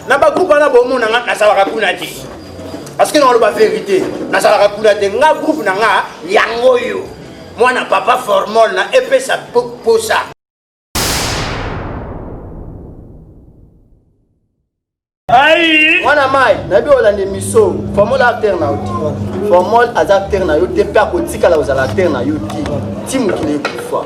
na bagroupe wana bomona nga nazalaka kuna te parceke naoloba verité nazalaka kuna te nga groupe na nga yango oyo mwana papa formol na epesa posa Aïe Mwana mai, nayebi olanda émission. Formol acteur na yo ti. Formol aza acteur na yo te mpe akotikala kozala acteur na yo ti. Ti mokili ekufa.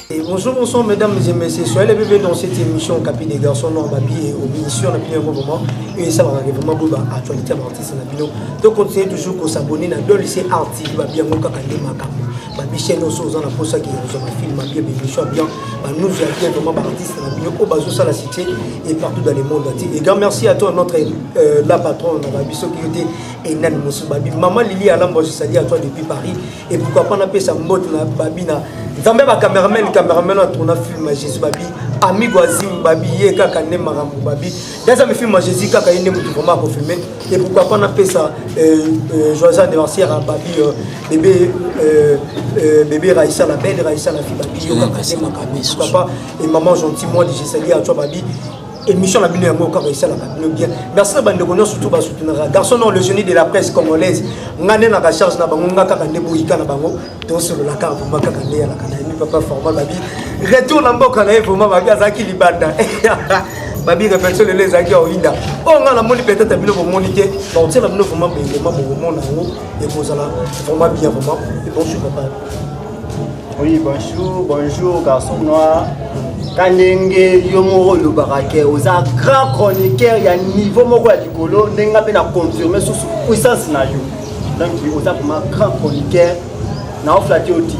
Bonjour, bonsoir mesdames et messieurs. Soyez les bienvenus dans cette émission Capi des garçons non babi et au ministère on a bien vraiment et ça va vraiment beau actualité artiste na bino. Donc continuez toujours à s'abonner na Dolly c'est artiste ba bien ngoka kande makambo. Ba biche no so zana posa ki zo ba film ba bien émission bien. Ba nous ya bien vraiment ba artiste na bino ko bazo sala cité et partout dans le monde entier. Et grand merci à toi notre euh, la patronne na ba biso qui était Enan Moussou Babi. Maman Lili Alambo je salue à toi depuis Paris. Et pourquoi pas napesa mbote na babi na nzambe ba cameraman cameraman na tourna film ya jésus babi amigo azim babi ye kaka nde makambo babi daza mi film ya jésus kaka ye nde motu vraiment akofilme et pourquoi pas napesa euh, euh, joyeux anniversaire ya babi euh, bebe bebe raisa la belle raisa la fille babi yo kaka nde makambo pourquoi pas et maman gentil moi de jesali ya twa babi émission na bino yango kaka esalaka bino bien merci na bandeko nyonso tu basutunaka garçon non le génie de la presse congolaise nga nde naka charge na bango nga kaka nde boyika na bango tosolola kaka vraimen kaka nde yalaka na yemi papa formal babi retour na mboka na ye vraimen babi azalaki libanda babi réflexion lelo ezalaki ya oyinda oyo ngai namoni peut-être bino bomoni te bakotiela bino vraimen bengema bokomona yango ekozala vraimen bien vraimen ebonsu papa Oui, bonjour, bonjour, garçon noir. kandenge yo moko olobaka ke oza grand chroniqueur ya niveau moko ya likolo ndenge nga mpe na confirme susu puissance na yo donc oza vraiment grand chroniqueur na oflati oti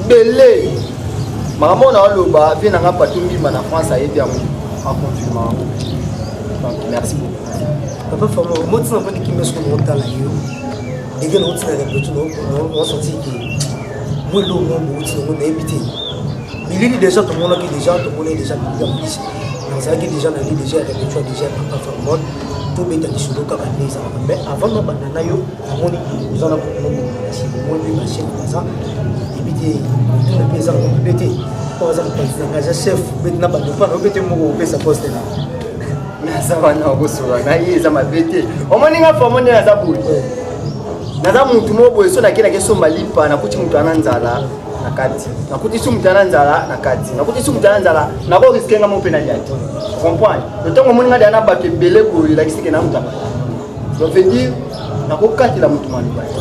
bele makambo na oloba vie na nga patu mbima na france ayebi yango aconfirme yango donc merci beaucoup papa famo motina mpo ndikimbe soko mokotala yo ndenge nauti na repetu naosoti ke mwa eloko mwa bouti nango nayebi te bilili deja tomonaki deja tomonaki deja bilili ya polisi nazalaki deja na li deja ya repetua deja ya papa famod tobeta lisolo kaka nde ezalaka mais avant nabanda na yo namoni oza na bokomoasi omoni mpe bachef baza ebi te otuna mpe eza nango mpe te oyo aza mopanzi na ngai aza chef bete na bato mpa na yo mpe te moko opesa poste na naza wana okosola na ye eza mabe te omoni nga famo nde naza boye naza mutu moko boye so nakendaki esomba lipa nakuti mutu ana nzala na kati nakuti su mutu ana nzala na kati nakuti su mutu ana nzala nakoriske nga mo mpe nalia te comprendre ntango omoni nga deana bato ebele boye elakisike na mutaba donc veut dire nakokatela mutu maloba te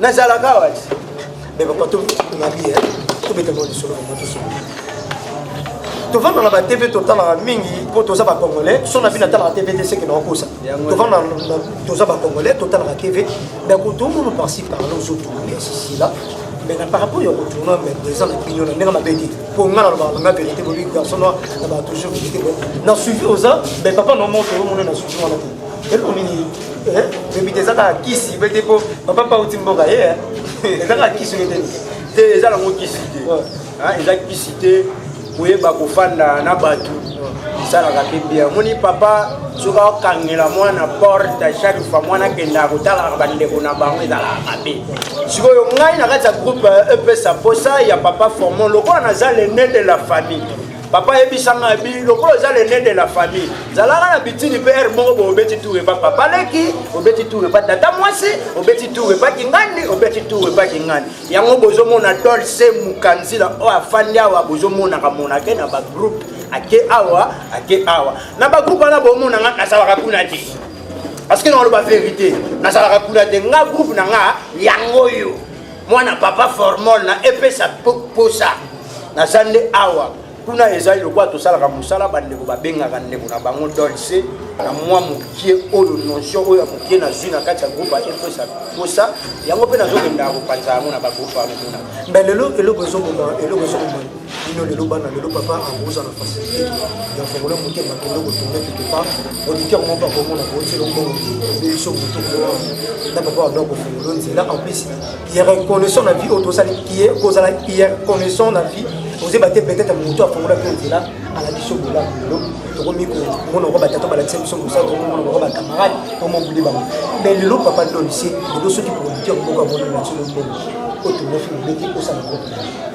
nazalaka awa ti me papa tomabi tobeta mwa lisolo yango tosolo tovanda na batv totalaka mingi mpo toza bacongolais so na bino atalaka tv te seke nakokosa tovanda toza bacongolais totalaka tv me kutu omona parci parla ozotourne sisila mais na par rapport ya kotourna mais eza na bino na ndenge mabe te mpo nga nalobaka nanga verité bobi garçon noir na bato toujours verité na suivi oza mais papa na moto omona na suivi wana te eloko nini Eh, bebite eza kaka kisi bete mpo papa pauti mboka ye eh. eza kaka kisi bete te eza nango kisi te ah, eza kisi te koyeba kofanda na bato esalaka mpe bia omoni papa soki akokangela mwana porte chaque fois mwana akendaka kotalaka bandeko na bango ezalaka mabe sikoyo ngai na kati ya groupe epesa eh, e mposa ya papa formon lokola naza lene de la famille papa yebisa ngai bi lokola oza lene de la famille zalaka na bitini mpe ere moko bo obeti tour epa papa leki obeti tour epa tata mwasi obeti tour epa kingandi obeti tour epa kingandi yango bozomona dolce mukanzila oyo afandi awa bozomonaka monake na bagroupe ake awa ake awa na bagroupe wana bomona ngai nazalaka kuna te parce que naoloba verité nazalaka kuna te nga groupe na nga yango oyo mwana papa formol na epesa posa naza nde awa kuna ezali lokola tosalaka mosala bandeko babengaka ndeko na bango dolce na mwa mokie oyo notion oyo ya mokie nazwi na kati ya groupe ya epesa posa yango mpe nazokendaka kopanza yango na bagroupe wana kuna mbe lelo eloko ezoboma eloko ezoboma bino lelo bana lelo papa akoza na facilité ya fongola motema kende kotourne quelque part auditeur moko akomona bootelo mbongo ebe biso moto koa na papa wado akofongola nzela en plus ye reconnaissant na vie oyo tozali ye kozala ye reconnaissant na vie ozeba te peut-être moto afongola mpe nzela ala biso bolamu lelo tokomi komona ngo batata balakisa biso mosala tokomona ngo bacamarade omobuli bango mais lelo papa donise lelo soki producteur moko amonana biso lobongo oyo tomofi mobeti osala kopi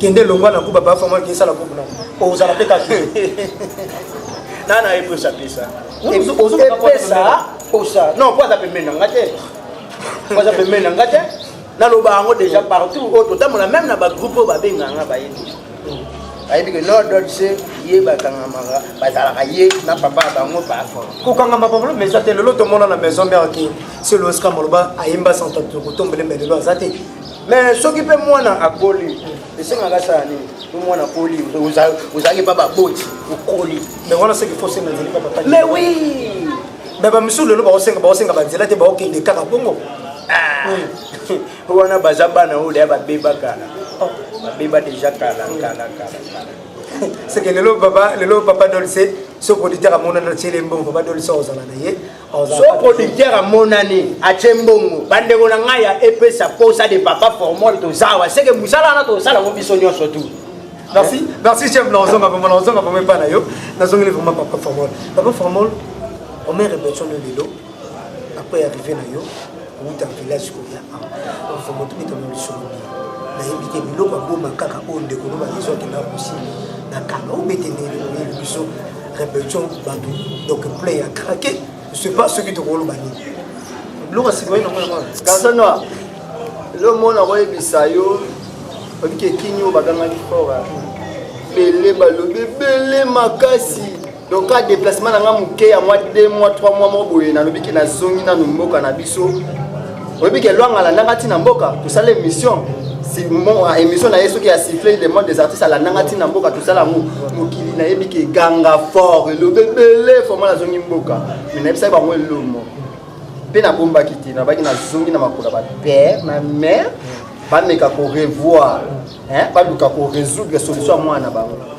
kende longwa na kuba ba fama kisa la kuba o zala pe ka na na epo sa pesa o zo ka pesa o sa non kwa za pe mena ngate kwa za pe mena ngate na lo ba ngo déjà partout o to tamola même na ba groupe ba benga nga ba yini ayebi ke no dot se ye bakangamaka bazalaka ye na papa ya bango bafo kokangama papa mais eza te lelo tomona na maison mère ke selo esika maloba ayemba santa tokotombele me lelo aza te mais soki mpe mwana akoli esengaka asala nini to mwana akoli ozalaki mpa baboti okoli mais wana soki fo senga ezali mpa papa mais oui mais bamisusu lelo baosenga baosenga banzela te baokende kaka bongo ah. wana baza bana oyo deya babeba kala oh. babeba deja kala kala kala kala seke lelo papa lelo papa dolce soki auditeur amonana tiele mbongo papa dolce ozala na ye so producteur amonani atie mbongo bandeko na ngai ya epesa posa de papa formol tozawa seke mosala wana tosala ngo biso nyonso tu merci merci chef naozonga vraimen naozonga vraimen epai na yo nazongeli vraimen papa formol papa formol omere besoin de lelo après arrivé na yo kouta village koya awa mfumu tobeta na lisolo bia nayebi te biloko aboma kaka oyo ndeko no bayezu akenda kosi na kanga obete ndenge oyebi biso répétition bato donc play ya krake je sais pas soki tokoloba nini biloko asikoyi nango yango kasana lo mona koyebisa yo obiki ekini oyo bagangaki fora bele balobi ebele makasi donc ka déplacement na nga moke ya mwa 2 mwa 3 mwa moko boye nalobi ke nazongi nanu mboka na biso oyebi ke lwanga alandanga ntina mboka tosala émission ah, émission na ye soki ya siffle le monde des artistes alandanga ntina mboka tosala yango mokili nayebi ke ganga fort elobi ebele forma nazongi mboka me nayebisaki bango elomo mpe nabombaki te nabaki nazongi na makolo ya bapère na mère bameka korevoir baluka koresoudre solution ya mwana na bango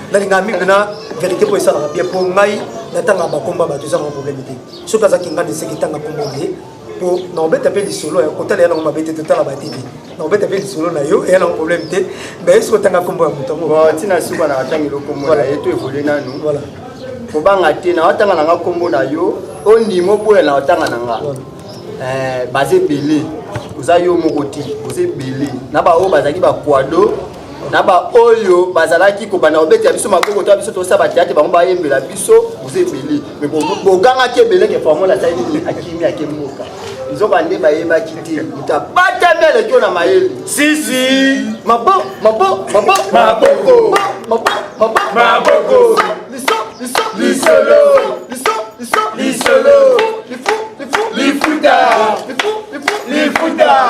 nalingaka mingi na verité mpo esalaka bien mpo ngai natangaka bakomba bato ezaka problème te soki azaki ngai neseki tanga kombo ye mpo nakobeta mpe lisolo ya kotala ya nango mabe te totala batv nakobeta mpe lisolo na yo eya nango problème te mais ye soki otanga kombo ya moto yango ntina suka na atangi lokombo na ye to evole nanu kobanga te na otanga na nga kombo na yo ondima oboya na otanga na nga eh, baza ebele oza yo moko te oza ebele na baoyo bazalaki bakwado na baoyo bazalaki kobanda kobetela biso maboko to biso tosa bateatre bango bayembela biso oza ebele me bogangaki ebele ke formole asali nini akimi ake mboka nzoka nde bayebaki te moto abatami alekio na mayele sisi mabo mabo mabo maboko mabo mabo maboko liso liso lisolo liso liso lisolo lifu lifu lifuta lifu lifu lifuta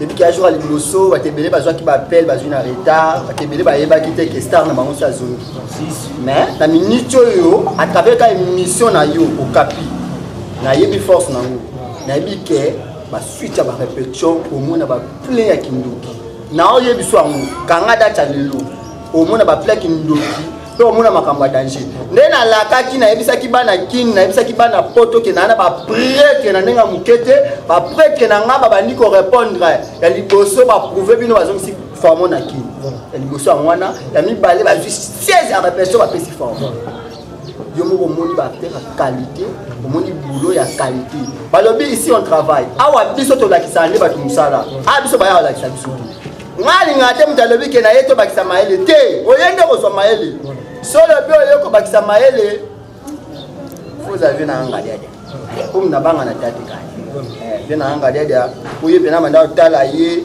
depuis kila jour ya liboso bato ebele bazwaki bappel bazwi na retard bato ebele bayebaki te ke star na bango si azongi mais na minute oyo à travers ka émission na yo okapi nayebi force na yango nayebi ke basuite ya barepetition omona baplein ya kindoki na oyebiso yango kanga date ya lelo omona baplein ya kindoki mpe omona makambo ya danger nde nalakaki nayebisaki bana kini nayebisaki bana poto ke naa na bapretre na ndenge ya moke te bapretre na ngai babandi korepondre ya liboso baprouve bino bazongisi formo na kini ya liboso yango wana ya mibale bazwi 16 ya repression bapesi formo yo moko omoni baacteur ya qualité omoni boulot ya qualité balobi ici on travaille awa biso tolakisaka nde bato mosala awa biso baya balakisa biso te nga alingaka te moto alobi ke na ye tobakisa mayele te oye nde kozwa mayele solo mpe oye kobakisa mayele ozavi na angaliadia omi na banga na tate kani eh, mpe na angaliadia oye mpe na manda otala ye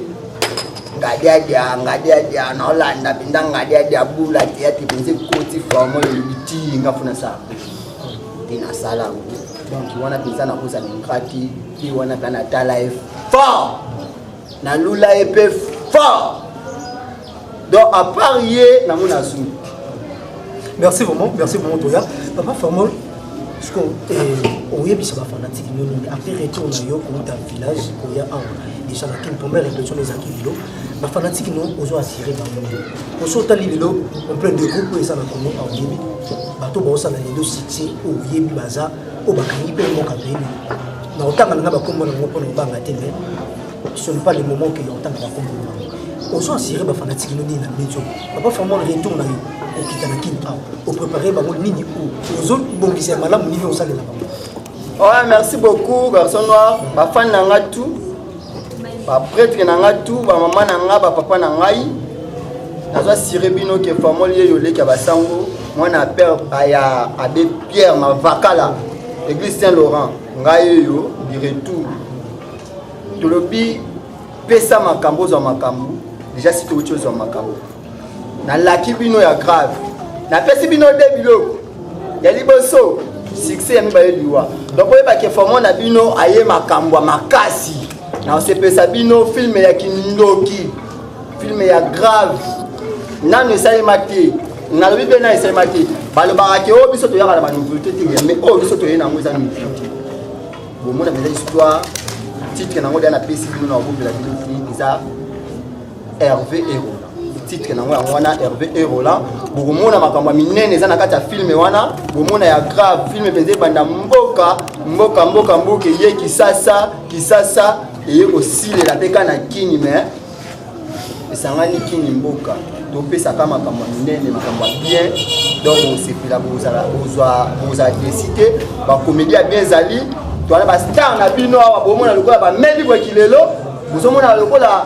ngadiadia ngadiadia naolanda mpenza ngadiadia bula te ate mpenza ekoti forme oyo elobi ti nga mpo nasala te nasala yango donc wana mpenza nakozala ingrati mpe wana mpe natala ye fort na lula ye mpe fort donc à part ye nango nazwi merci vraiment merci vraiment toya papa formol siko oyebisa bafanatike yo nini après retour na yo kouta village koya awa déjà na kin première réflexion na ezalaki lelo bafanatike no ozo assire bango oso otali lelo ompleur de groupe oyo eza na congo aoyebi bato baosala lelo succès oyebi baza oyo bakangi mpe mboka beni na kotanga nanga bakombo na bango mpo na kobanga te me ce n'est pas le moment ke otanga bakombo na bango ozo asire bafanatiki no nini na medio papa fama retour na yo okita na kin awa oprépare bango nini o ozobongisa ya malamu nini osalela bango oh, merci beaucoup garçon noir bafani na nga tout bapretre na ngai tu bamama na ngai bapapa na ngai nazo asire bino ke famoli ye yoleki ya basango mwana ya père ya abe pierre mavakala église saint laurent ngai oyo du retour tolobi pesa makambo ozwa makambo deja si touti ozwa makambo nalaki bino ya grave napesi bino de biloko ya liboso succès ya mibale liwa donc oyeba ke formo na bino aye makambo ya makasi na osepesa bino filme ya kindoki filme ya grave nanu esalema te nalobi mpe na esalema te balobaka ke oyo oh, biso toyaka na banouveauté te mais oyo oh, biso toye nango eza nouveauté bomona mpenza histoire titre nango deya napesi bino na obobela bino te eza Hervé Erola titre nango yango wana Hervé Erola bokomona makambo ya minene eza na kati ya filme wana bomona ya grave filme mpenza ebanda mboka mboka mboka mboka eye kisasa kisasa eye kosilela mpe ka na kini me esangani kini mboka topesaka makambo ya minene makambo ya bien donc osepela bozala bozwa bozala desi te bakomedi ya bien ezali towana bastar na bino awa bomona lokola bameli bweki lelo bozomona lokola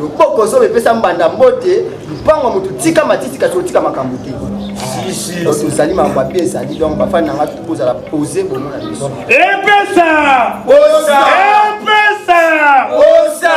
loboko zoba epesa mbanda mbote mpango ya moto tika matiti kasi otika makambo te tozali makambo mabe ezali donc bafani na nga tokozala pose bomona biso epesa epesa epesa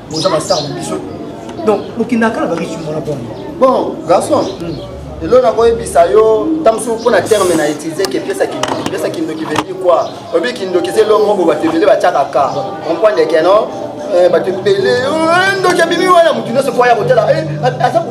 boza bastar na biso donc bokendaka kala bariki mwana bwana bon garçon hmm. elo nakoyebisa yo ntango soki mpo na terme na utilise ke piesa kindoki piesa kindoki veut quoi oyebi kindoki eza eloko moko bato ebele batyaka ka comprendre ke non eh, bato ebele eh, ndoki abimi wana motu nyonso mpo aya kotala eh, aza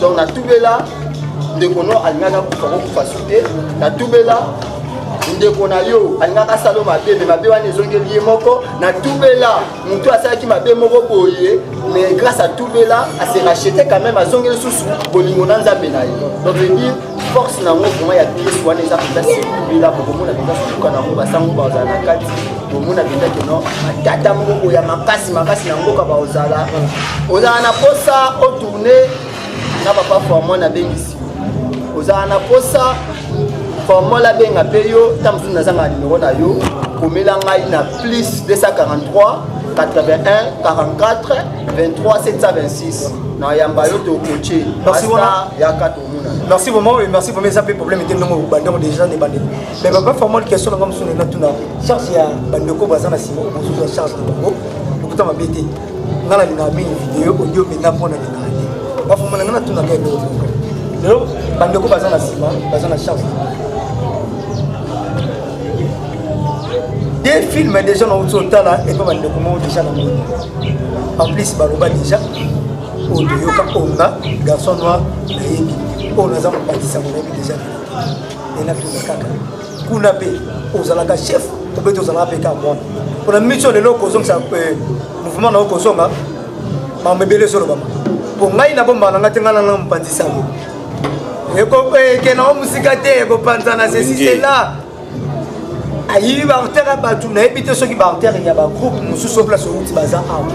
donc natubela ndeko no alingaki akufa kokufa su te natubela ndeko na yo alingaka asala mabe me mabe wana ezongeli ye moko na tubela motu asalaki mabe moko boye mais grâce a tubela ase rachete quand même azongeli susu bolingo na nzambe na ye donc force na yango vraiment ya pièce wana eza mpenza sekubela bokomona mpenza suka na yango basango bazala na kati bomona mpenza keno batata moko boye ya makasi makasi na mboka baozala ozala na posa otourne na papa formon abengisi ozala na posa formol abenga mpe yo nta mosusu nazanga nimero na yo komela ngai na plus 243 81 44 23 726 nayamba yo tokoce yaka merci vraiment et merci vraiment eza mpe problème te ndongo bandeko déjà ne bandeko mais papa formol question nanga mosusu nena tuna charge ya bandeko baza na nsima bozozwa charge na bango lokuta mabe te nga na lingaka mingi video audio mpenza mpo na lingaka te bafoma na nga natunaka eloko moko lelo bandeko baza na nsima baza na charge deux films déjà na outi otala epa bandeko moko déjà na moni en plus baloba déjà oyo toyoka onga garçon noir nayebi oyo naza mobakisa monayebi deja enatuna kaka kuna mpe ozalaka chef obeti ozalaka mpe kaka mwana mpona mission lelo okozongisa eh, mouvement na yo kozonga mambo ebele ezolobama mpo ngai nabombaka na ngai te ngai nanga mopanzi sango ekokena eh, o mosika te ekopanzana sesi sela ayibi baartere ya bato nayebi te soki baartere ya bagroupe mosusu o place outi baza awa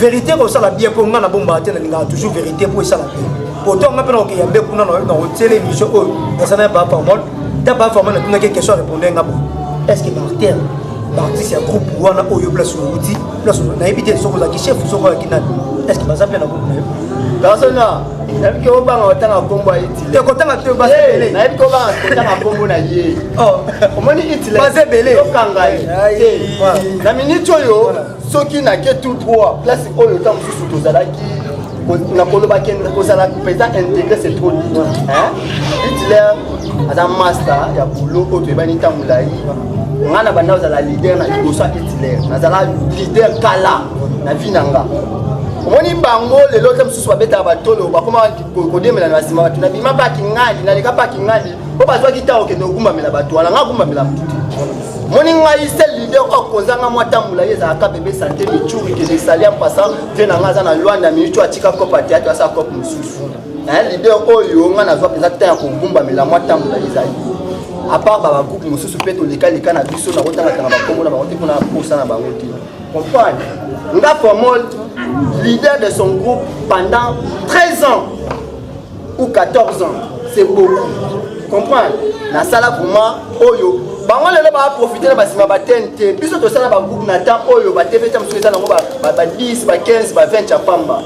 verité kosala bien mpo ngai nabombaka te nalingaka toujours verité mpo esala bien pourtant ngai mpe nakokeya mbe kuna nakotiela émission oyo naza na ya baformol ta baformol natunaki question répondre ngai bo est ce que baartere baartiste ya groupe wana oyo place outi place nayebi te soki ozalaki chef soki ozalaki nani est ce que baza mpe na groupe na yo bazana nabiki obanga otanga nkombo te kotanga te baza ebele nayebi ko ba kotanga kombo na ye oh. omoni hitler baza ebele okanga ye te na minute oyo soki na ke tout droit place oyo ntango mosusu tozalaki na koloba ke kozala mpenza integre c'est trop dur hitler aza master ya boulot oyo toyebani ntango molai ngai na banda ozala leader na liboso ya hitler nazala leader kala na vie na nga omoni bango lelo te mosusu babetaka batolo bakoma kodemela na nsima bato nabima mpe akingali naleka mpe akingali mpo bazwaki ntango okende kogumbamela bato wana nga agumbamela motu te moni ngai se lider okozanga mwa tambola ye ezalaka bebe sante michuri kelesali ya mpasa vie na ngai aza na lwanda miutu atika kope ateatre asa kope mosusu lider oyo ngai nazwa mpenza ntan ya kogumbamela mwa tambola ezali apart babagroupe mosusu mpe tolekaleka na biso nakotangatanga bakombo na bango te mpo na posa na bango te Comprendre. Nga Formol, leader de son groupe pendant 13 ans ou 14 ans, c'est beaucoup. Comprendre. Nasala vraiment oyo bango lelo baprofite na basima batene te biso tosala bagroupe na temps oyo batv ta mosusu eza nango ba 10 ba 15 ba 20 ya pamba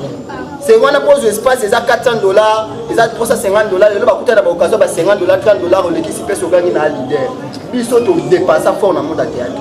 se wana mpo ozwa espace eza 400 dollar eza 350 dollar lelo bakuta na baoccasion ba 50 dollar 30 dollar olekisi mpe sogangi na leader biso todepasa fort na monde ya théâtre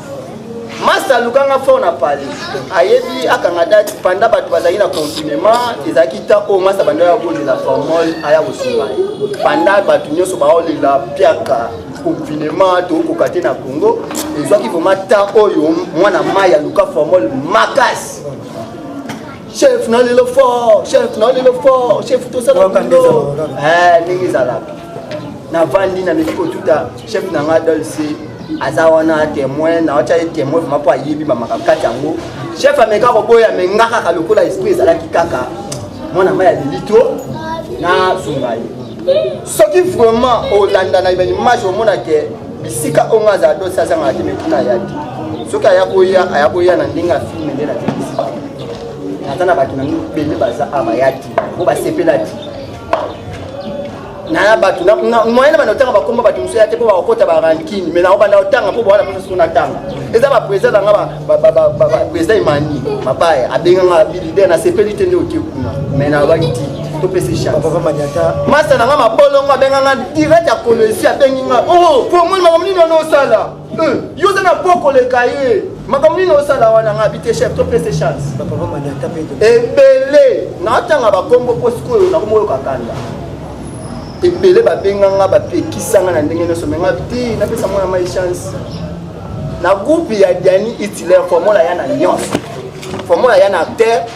masta alukanga fort na pale ayebi akanga date panda bato bazalaki na confinement ezalaki ntan oyo masta banda ya kolela formol aya kosunga ye panda bato nyonso baolela piaka confinement tokokoka te na congo ezwaki vraimen ntan oyo mwana mai aluka formol makasi chef na lelo fort chef na lelo fort chef tosala ndenge ezalaka navandi nameki kotuta chef na ngai dolce aza wana témoin nawatya ye témoin vraimen mpo ayebi bamakambo kati yango chef ameka koboya me nga kaka lokola esprit ezalaki kaka mwana mai ya lilito nazonga ye soki vraiment olanda na image omona ke bisika oyo nga azala dosi azangaka te mekuna aya te soki aya koya aya koya na ndenge ya filme nde nazekisi naza na bato na ngai bele baza awa ya te mpo basepela te naya bato moyen na banda otanga bakoma bato mosusu ya te mpo bakokota barankine mai naobanda otanga mpo bawana mposa sona tanga eza baprésident na nga baprésident emani mabaya abenga nga bilider nasepeli te nde oke kuna mai nayobaki ti topesi chamasa na nga mabolongo abenga nga direct ya kolesi abengi nga o oh, promoni makambo nini wana osala Euh, yo oza na po koleka ye makambo nini osala wana nga bite chef topese chance ebele natanga bakombo mpo sikoyo nakomoyoka kanda ebele babenga nga bapekisa nga na ndenge nyonso me nga te napesa mwana mai chance na groupe ya diani itilaire formola ya na nyonso formola ya na acteur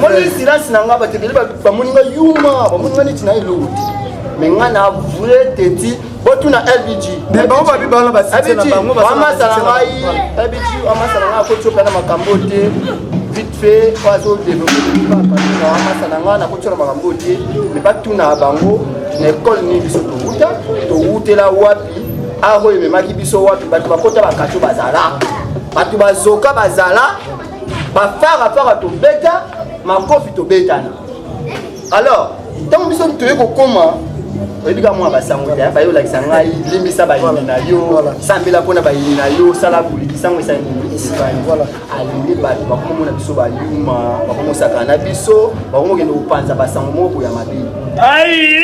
moni silence na nga bato ebele bamoni nga yuma bamoni nga neti na eloko te me nga na vrai teti botuna lbg amasala ngai lbg amasala ngai akotioka na makambo te vite fait oyo azodevelopeamasala ngai nakotiola makambo te me batuna bango na ekole nini biso towuta towutela wapi aho ememaki biso wapi bato bakota bakatio bazala bato bazoka bazala bafarafara tobeta makofi tobetana alors ntango biso toye kokoma oyebi ka mwa basango te baye olakisa ngai limbisa bayini na yo sambela mpo na bayini na yo sala bulikisango esalingi bato bakomomona biso bayuma bakomosakana na biso bakomokende kopanza basango moko boya mabe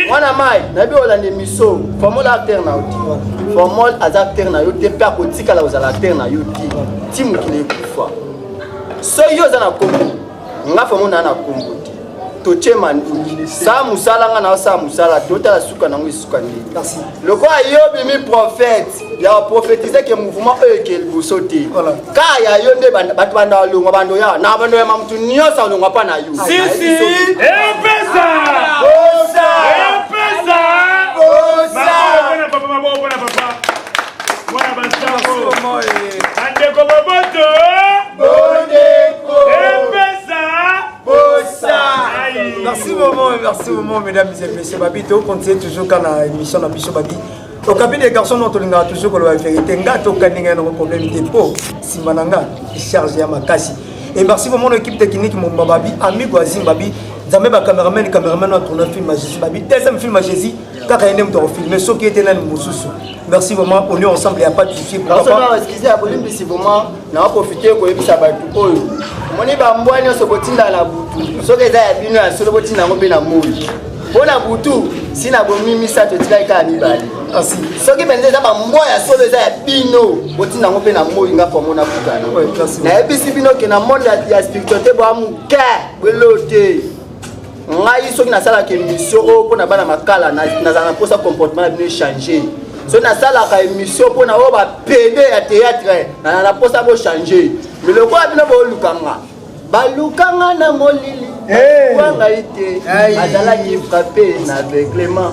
mwana mai nayebi olanda emiso formol acteur na yo te formol aza acteur na yo te mpe akotikala kozala acteur na yo te ti mokili soki yo oza na kombo nga famo naa na kombo te totie manduki saa mosala nga na osala mosala te otala suka nango esuka nde lokola yo bimi prophète ya prophétise ke mouvement oyo eke liboso te ka ya yo nde bato banda balongwa bando ya na bando ya mamutu nyonso alongwa mpa na yo mwana basango bandeko boboto bondeko epesa bosa merci maman merci maman mesdames et messieurs babi tokontie toujours ka na émission na biso babi okabi de garçon no tolingaka toujours koloba verité nga tokaninga yanoko problème te mpo nsima na nga charge ya makasi et merci vraiment l'équipe technique momba babi amigo azim babi nzambe bacameraman cameraman na tourna film ya jésus babi deuxième film ya jésus kaka ye nde moto akofilme soki ete nani mosusu merci vraiment on est ensemble ya pas de souci excuse ya bolimbisi vraiment na profite koyebisa bato oyo omoni bambwa nyonso botinda na butu soki eza ya bino ya solo botinda yango mpe na moi mpo na butu si na bomi misato etikaki kaka mibale kasi soki mpenza eza bambwa ya solo eza ya bino botinda yango mpe na moi nga pomo na butana nayebisi bino ke na monde ya spiritualité bwa moke bwelo te ngai soki nasalaka émission oyo mpo na bana makala nazala na mposa comportement na bino echange soki nasalaka émission mpo na oyo bapede ya théâtre nazala na mposa bochange me lokola bino bolukanga balukanga na molili eh. wa ngai te azalaki frappe na aveuglement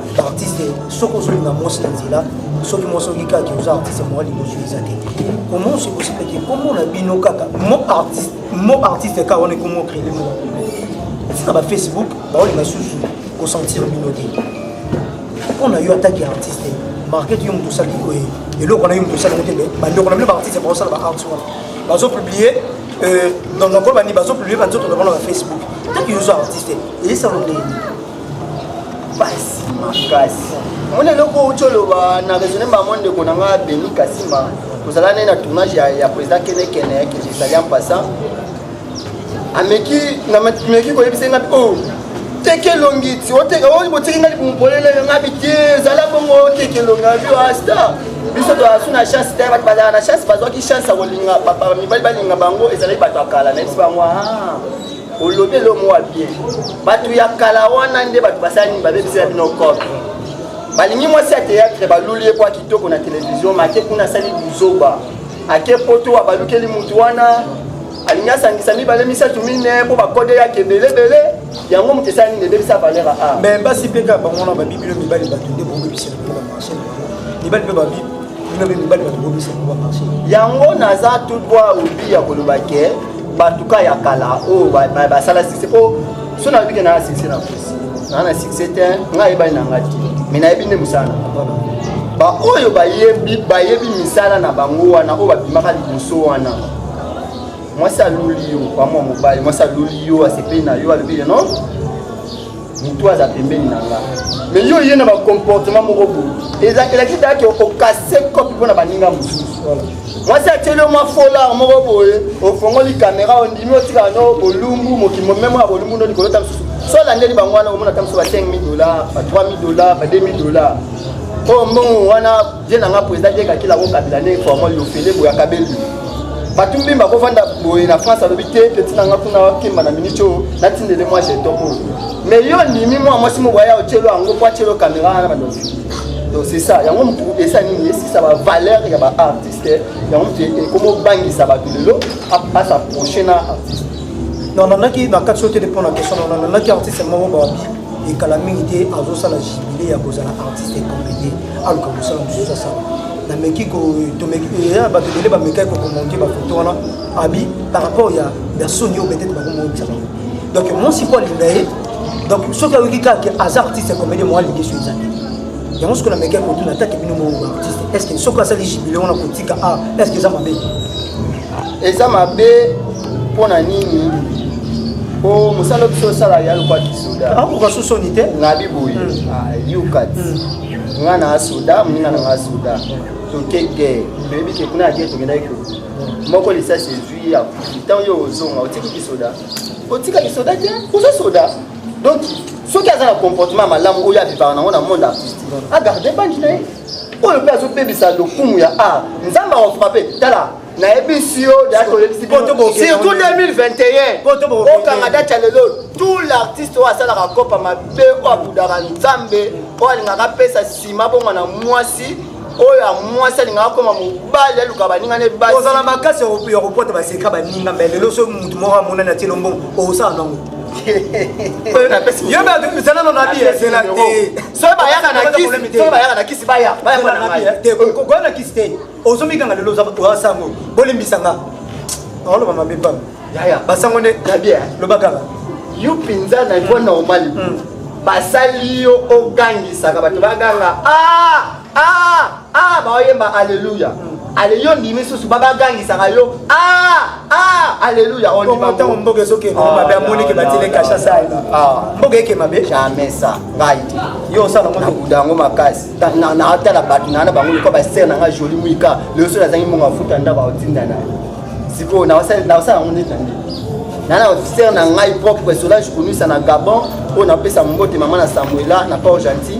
artiste soki ozolinga mwasi na nzela soki mwasi oki kaka ke oza artiste moya liboso eza te comment c'est possible ke kombo na bino kaka mo artiste mo artiste kaka wana ekomo créele mo tika ba facebook baolinga susu kosentir bino te mpo na yo ataki artiste market yo moto osali oye eloko na yo moto osali mote bandeko na bino baartiste baosala baartiste wana bazopublie euh, dans nakolo bani bazopublie banzoto na bango na bafacebook ntango yo oza artiste ezisalo ndenge pasi makasi omoni eloko outi oloba na raisonne bango ndeko na ngai beni kasima tozala naye na tournage ya président kenekene ya kingisali en passant ameki nameki koyebisa ngai o oh, teke elongi ti oteke oyo botiki ngai libumu polele ngai bite ezala bongo oteke elongi abi asta ah, biso toasu na chance te bato bazala na chance bazwaki chance ya kolinga mibali balinga bango ezalaki bato ya kala na yebisi bango ah. olobi elo mowa bien bato ya kala wana nde bato basala nini babebisela bino cope balingi mwasi ya théâtre baluli ye mpo akitoko na televizio make kuna asali buzoba ake poto abalukeli motu wana alingi asangisa mibale misato mine mpo bakode yake ebelebele yango moto esala nini ebebisa valeur a me basi mpe kaka bango wana babi bino mibali bato nde bobebisela mpo bamarche na bango mibali mpe babi bino mpe mibali bato bobebisela mpo bamarche yango naza tout droit obi ya koloba ke bato ka ya kala oyo basala sise mpo so nayebi ke naa sise na kosi naa na sise te ngai ayebani na ngai te me nayebi nde mosala na baoyo bayebi bayebi misala na bango wana oyo babimaka liboso wana mwasi aluli yo pamwa mobali mwasi aluli yo asepeli na yo alobi ye non mutu aza pembeni na nga mais yo ye na bacomportement moko boye elakisi dake okase kopi mpo na baninga mosusu mwasi atieli yo mwa folar moko boye ofongoli kamera ondimi otikala no bolumbu mokimo memo ya bolumbu ndo likolo ta mosusu so olandeli bango wana omona ta mosusu ba 5000 dollar ba 3000 dollar ba 2000 dollar oyo mbongo wana vie na nga president dieka kila ko kabila ne formal yo fele boya kabelu bato mpe bakofanda boye na france alobi te peti na nga kuna akemba na miniti oyo natindele mwa jeton oyo mais yo ndimi mwa mwasi moko aya otyelo yango mpo atyelo kamera wana bandoki donc c'est ça yango motu esa nini esisa bavaleur ya baartiste yango motu ekomobangisa bato lelo asa prochain na artiste non nanaki na kati oyo te mpo na question na nanaki artiste moko babi ekala mingi te azosala jibile ya kozala artiste comédien aluka mosala mosusu asala nameki ya bato ebele bamekaki kokomonte bafoto wana abi par rapport ya ya soni oyo peut-être bakomoyebisa bango donc mwasi mpo alinga ye donc soki ayoki kaka aza artiste comédien mwa alingi so eza te yango soki namekaki kotuna atake bino moko artiste est ce que soki asali jubile wana kotika a ah, est ce que eza mabe eza mabe mpo na nini po mosala biso osala ya lokwa kisoda akoka so soni te ngabi boye hmm. ah, yukat hmm. nga na soda moninga na nga soda toke guerre toyebi ke kuna ya guerre tokendaki hmm. moko lisasi ezwi ya ntango yo ozonga otiki kisoda otika kisoda te oza soda donc soki aza na comportement malamu oyo abibaka nango na monde artistique agarde bangi na ye oyo mpe azobebisa lokumu ya art nzambe akofrape tala nayebisi yo surtout 2021 okanga dati ya lelo tout l'artiste oyo asalaka kopa mabe oyo abudaka nzambe oyo alingaka apesa nsima bongo na mwasi oyo ya mwasi alingaka koma mobali aluka baninga ne basi ozala makasi ya kopota baseka baninga mbe lelo so motu moko amonani atie lombongo okosala nango yo bato bizalano na bi ezela te soki bayaka na kisi soki bayaka na kisi baya baya mwana na ngai te kokoya na kisi te ozomikanga lelo oza sango bolimbisa nga oloba mabe pam yaya basango nde na bien loba kaka yo mpenza na niveau normal hmm. basali yo ogangisaka bato baganga ah ah ah baoyemba aleluya aleli ondimi susu babagangisaka yo ah, ah, aleluya ntango mboka ezokende ah, mabe amonike batile kasha sali mboka eke mabe jamais sa ngai te yo osala ngo tokuda yango makasi natala bato naa na bango lokola basere na ngai joli mwika lelo soki nazangi mbongo afuta ndako aotinda na ye sikoyo naosala yango neti na ndenge naa na ofisere na ngai propre solage konisa na gabon oyo napesa mbote mama na samuela na port gentil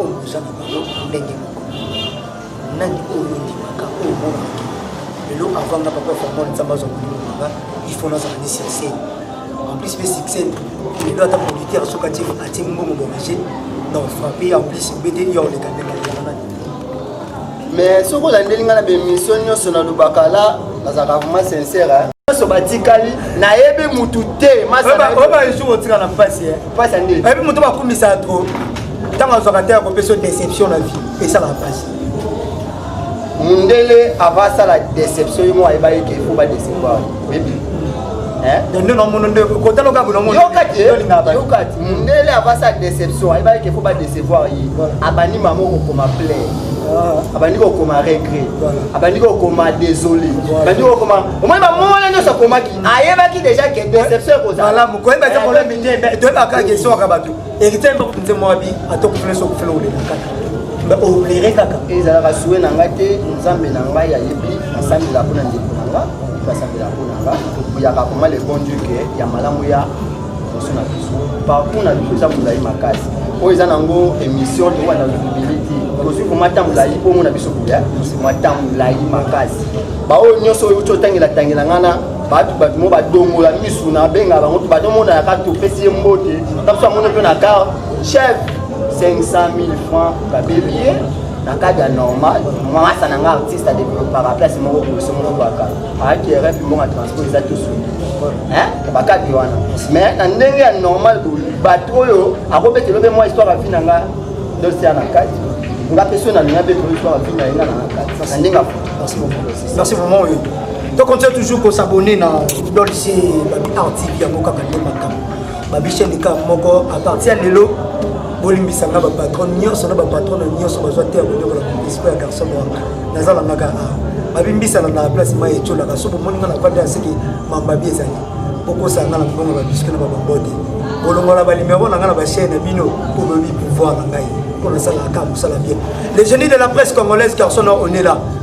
oyo boza na bango ndenge moko nani oyo ondimaka oyo omonaki lelo avant nga papa formol nzambe azwa molimo nanga il faut nazala ni succès en plus mpe succès lelo ata producteur soki atie atie mbongo boraje donc frappe en plus obete yo oleka ndenge mais soki olandeli ngai na bemission nyonso nalobaka la nazalaka vraiment sincère eh. nyonso batikali nayebi mutu te masaobaesu otika na mpasi mpasi ya ndeni ayebi moto bakumisaka tro ntango azwaka te akopesa yo déception na vie esalaka mpasi mundele ava asala déception ye moko ayebaki ke fo badecevoir nde namono nde kota loka kuna mono yokati yokati mundele avasa déception ayebaki ke fo ba décevoir ye abandi mama okokoma plaire abandi kokoma regret abandi kokoma désolé abandi kokoma omoni bamona nyonso akomaki ayebaki déjà ke déception ekozala malamu koyeba te problème te toyebaka question kaka bato Héritier mpe kutu nzembo wabi atokufele so kufele olela kaka mbe oblere kaka ezalaka sue na ngai te nzambe na ngai ayebi nasambela mpo na ndeko na nga basambela mpo na nga oyaka koma le bon dieu ke ya malamu ya liboso na biso parcours na biso eza molai makasi oyo eza nango émission tokoka na visibilité tozwi koma ta molai mpo omona biso koya mwa ta molai makasi baoyo nyonso oyo uti otangelatangela ngai na bato bato mo badongola misu na abenga bango to bato omona yaka topesi ye mbote tabiso amoni mpe na kar chef 500 000 francs babebi ye na kadi ya normal mwasa na nga artiste adeveloppaka place moko boso moko baka ayaki rf mbonga transport eza tosuni bakadi wana mais na ndenge ya normal boye bato oyo akobetelo mpe mwa histoire avi na nga dosia na kati nga mpe so na linga mpe toyoi histoire avi na ye nga na nga kati na ndenge afuti merci vraiment oyo to continue toujours ko s'abonner na dolce babi art tv yango kaka nde makambo babi chaîne kaka moko à partir ya lelo bolimbisa nga bapatron nyonso na bapatron na nyonso bazwa te ya konyokola esprit ya garçon noir naza nangaka a babimbisana na place mai etyolaka so bomoni nga na vanda ya seke mambabi ezali bokosaka nga na mbongo babiske na babombo te kolongola balimero na nga na bachaine na bino mpo boyebi pouvoir na ngai mpo nasalaka kaka mosala bien le génie de la presse congolaise garçon noir on est là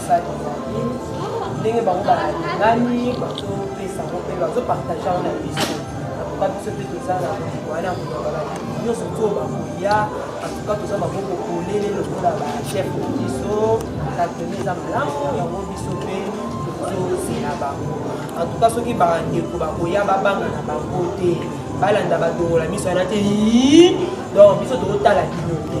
basali na ye ndenge bango balingani bazopesa ngo mpe bazopartage yango na biso antuka biso mpe toza na mokili wana ya kolobala nyonso to bakoya antuka toza maboko polele lokola bachef na biso na tene eza malamu yango biso mpe tozozela bango antuka soki bandeko bakoya babanga na bango te balanda badongola miso wana te donc biso tokotala bino te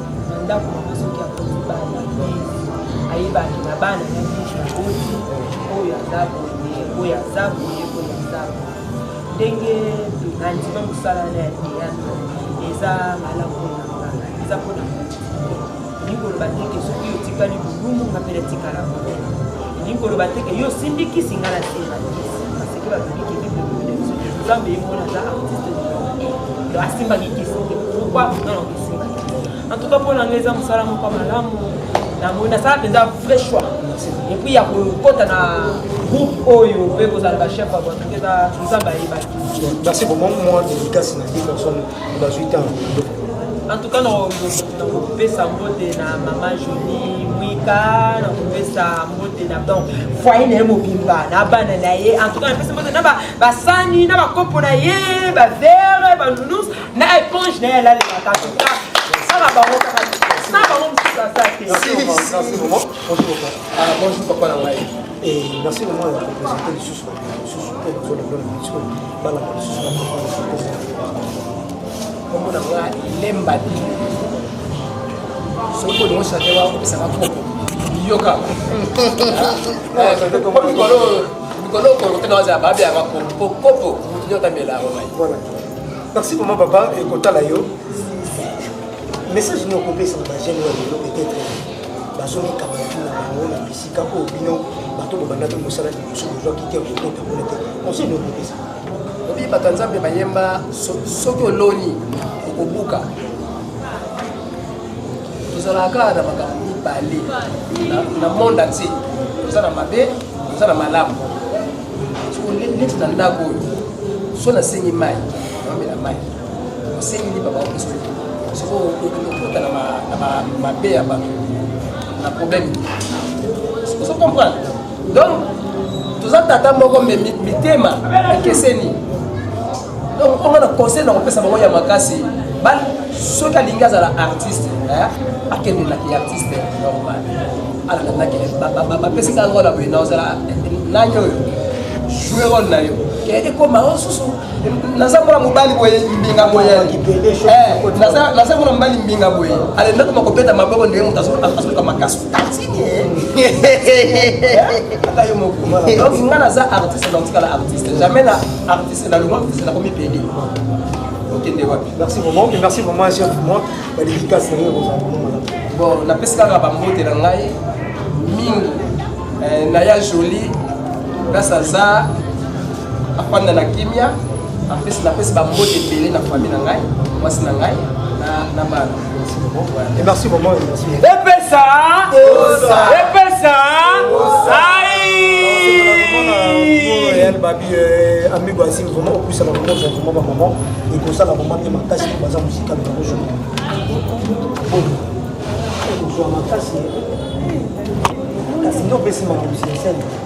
Na ndako mama soki akoti bana ayebaki na bana na biso akoti oyo aza boye oyo aza boye oyo aza boye ndenge nandima mosala na ya teyatre eza malamu na nga eza mpona elingi koloba teke soki otikali bolumu nga mpe natikala boye elingi koloba teke yo osindikisi nga na sindakisi nzambe ye mona aza artiste do asimbaki kisoki pourkoi non esimbaki en tout cas mpo na ngai eza mosala moko ya malamu namoni nasala mpenza vrai choix epuis ya kokota na groupe oyo mpe kozala bachef ya bato mpe nzambe ayebaki merci beaucoup mwa dédicace na ye personne bazwi ntango en tout cas nakopesa mbote na mama joli mwika nakopesa mbote na donc foye na ye mobimba na bana na ye en tout cas napesa mbote na basani na bakopo na ye bavere banunus na éponge na ye alalelaka en tout cas sala bango kaka na bango mosusu aza te bonjour papa na ngai merci vraiment ya kopresente lisusu bato mosusu mpe bazolongola biso merci vraiment papa ekotala yo message nokopesa na bagene oyo lelo peut-être bazomikama na bango na bisi Tika ko bino bato bobanda to mosala liboso bozwa kiti ya kokota kuna te conseil nde okopesa obi bato ya nzambe bayemba soki oloni okobuka tozalaka kaka na makambo mibale na monde entier toza na mabe toza na malamu neti na ndako oyo so nasengi mai naomela mai osengi lipa baopesa soko okota na mabe ya bato na problème ozo comprendre donc toza tata moko me mitema ekeseni donc onga na conseil na kopesa bango ya makasi soki alingi azala artiste akende na artiste normal alandanaki bapesi ngai lokola boye na ozala nani oyo jouer role na yo ekoma osusu naza mwana mobali boye mbinga boye eh, naza mwana mobali mbinga boye alendaki makopeta maboko ndenge moto azoluka makasi tatini ata yo moko donc nga naza artiste naotikala artiste jamais na artiste na longwa artiste nakomi pede okende wapi merci vraiment merci vraiment chef moi badidikasi na yo kozala bon napesi kaka bambote na ngai mingi eh, naya jolie place aza afanda na kimia apesi napesi bambote ebele na fami na ngai mwasi na ngai na bana merci maman epesa epesa Real Babi euh, amigo asili vraiment opusaka vraiment za vraiment bamama ekosala vraiment mpe makasi mpo baza mosika na yango jour okozwa makasi kasi nde opesi makambo sinsene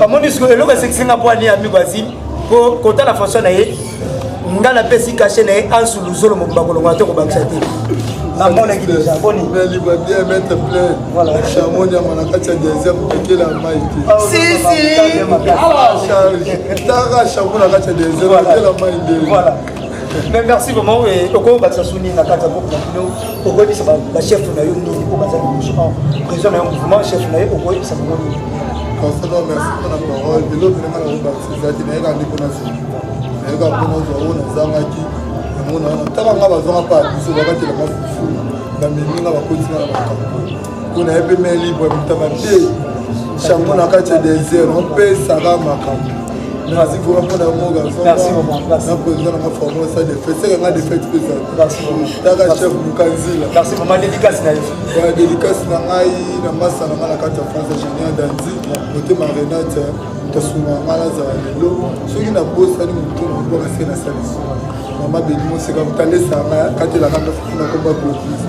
bamoni siko eloko esekisi nga mpo ani amigo asi mpo kotala faso na ye nga napesi kashe na ye ansu luzolo mobimba kolongola to kobakisa te namonaki deja boni nalibwa bien maitre plein chamo nyama na kati ya deuxième kokela mai te charge tara chamo na kati ya deuxième kokela mai nde Mais merci vraiment et oko ba sasuni na kata ko na bino oko bisa ba chef na yo nini ko ba za ko président na yo mouvement chef na yo oko bisa ko nini Conseil merci pour la parole de l'autre na ko ba sisa ti na ka ndi ko na sisi na ka ko na zo na zanga ki na mona na tala nga ba zonga pa biso ba ka tela ka fufu na mimi nga ba ko tsina na ba mpona ye mpe mai libre mitaba te chango na kati ya desert opesaka makambo merci vraiment mpona yango garçon na président nanga forme sa défaite seke nga défaite mpe ezaltaka chef mukanzila ya dédicace na ngai na masa na ngai na kati ya france ingénieur danzi motema renate tosunga nga nazala lelo soki nabosani motu na mobwaka se na salisi mama benimoseka motalesanga katelaka nafuna komba bobisa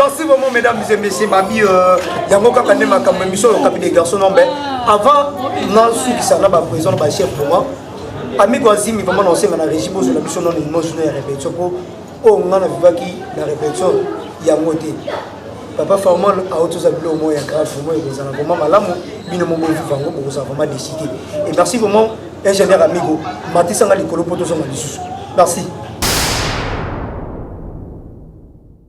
Merci vraiment mesdames et messieurs babi euh, yango kaka nde makambo émission oyo kabi des garçons non mais avant nasukisa na baprison na bachef pour moi amiko azimi vraiment na osenga na régi bozwela biso nono emotion ya répétition mpo oyo oh, ngai na vivaki na répétition yango te papa formal auti oza bilo moko ya grave vraiment ekozala vraiment malamu bino moko boviva yango bokozala vraiment décide et merci vraiment ingénieur amigo matisanga likolo mpo tozonga lisusu merci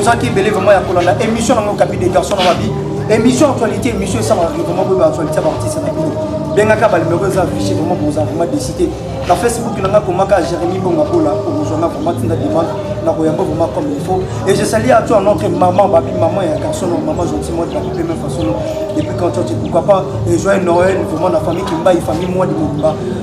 ozaki ebele vraiment ya kolanda émission nango kapi de garçon na mabi émission actualité émission esalaka vraiment boye baactualité ya baartiste na bino bengaka balimero eza affiche vraiment boza vraiment décité na facebook na nga komaka jérémi bonga kola okozwa nga vraiment tinda demande nakoyamba vraiment comme il faut et je salie à toi notre maman babi maman ya garçon no maman gentil moi babi pe même façon depuis quand tu pourquoi pas et joyeux noël vraiment na famille kimbayi famille moi de mobimba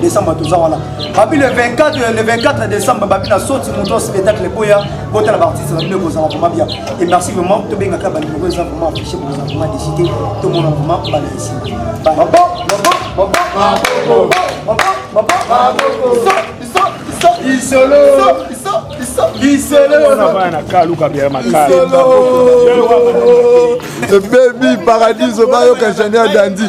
décembre toza wana babi le 24 le 24 décembre babi na soti moto ya spectacle boya botala baartiste babino ekozala vraimen bien et merci vraiment tobengaka balinoko eza vraiment affiche bokozala vraiment décide tomona vraiment bana esima isolo baby paradiso bayoka ingénieur dandi